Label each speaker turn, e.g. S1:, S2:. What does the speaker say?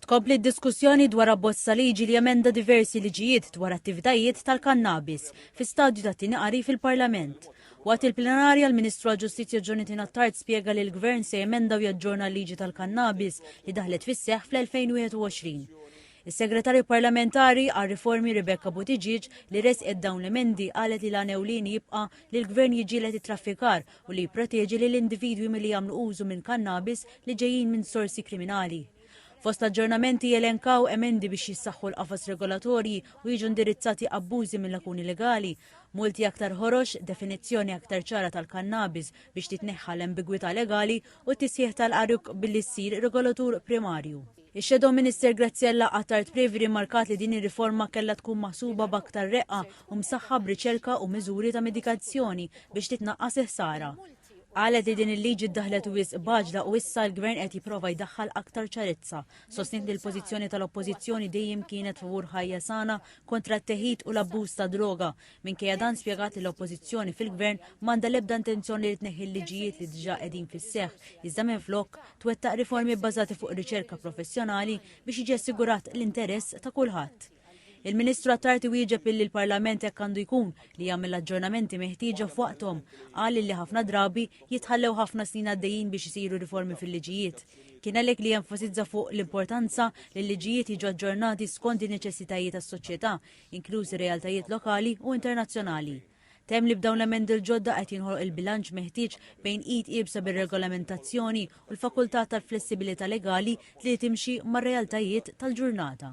S1: Tkompli d-diskussjoni dwar abbozz ta' liġi li jemenda diversi liġijiet dwar attivitajiet tal-kannabis fi stadju ta' tieni qari fil-Parlament. Waqt il-plenarja, l-Ministru għall-Ġustizzja Jonathan Attard spjega li l-Gvern se jemenda u jaġġorna l-liġi tal-kannabis li daħlet fis-seħħ fl-2021. Is-Segretarju Parlamentari għar-Riformi Rebecca Buttigieg li ressqet dawn l-emendi qalet li l-għan ewlieni jibqa' li l-Gvern jiġġieled it-traffikar u li jipproteġi lil individwi milli jagħmlu użu minn kannabis li ġejjin minn sorsi kriminali. Fost l-aġġornamenti jelenkaw emendi biex jissaħħu l-qafas regolatorji u jiġu indirizzati abbużi mill-lakuni legali, multi aktar ħorox, definizzjoni aktar ċara tal-kannabis biex titneħħa l-ambigwità legali u t-tisħiħ tal-għarq billi ssir regolatur primarju. Ix-Shadow Minister Graziella Attard Previ rrimarkat li din ir-riforma kellha tkun maħsuba b'aktar reqqa u msaħħa b'riċerka u miżuri ta' mitigazzjoni biex titnaqqas il-ħsara. Qalet li din il-liġi ddaħħlet wisq b'għaġla u issa l-Gvern qed jipprova jdaħħal aktar ċarezza. Sostniet li l-pożizzjoni tal-Oppożizzjoni dejjem kienet favur ħajja sana kontra t-teħid u l-abbuż tad-droga Minkejja dan spjegat li l-Oppożizzjoni fil-Gvern m'għandha l-ebda intenzjoni li tneħħi l-liġijiet li diġà qegħdin fis-seħħ, iżda minflok twettaq riformi bbażati fuq riċerka professjonali biex jiġi assigurat l-interess ta' kulħadd. Il-Ministru Attard iwieġeb illi l-Parlament hekk għandu jkun li jagħmel l-aġġornamenti meħtieġa f'waqthom. Qal illi ħafna drabi jitħallew ħafna snin għaddejjin biex isiru riformi fil-liġijiet. Kien għalhekk li jenfasizza fuq l-importanza li l-liġijiet jiġu aġġornati skont in-neċessitajiet tas-soċjetà inklużi realtajiet lokali u internazzjonali. Temm li b'dawn l-emendi l-ġodda qed jinħoloq il-bilanċ meħtieġ bejn id iebsa bir-regolamentazzjoni u l-fakultà tal-flessibilità legali li timxi mar-realtajiet tal-ġurnata.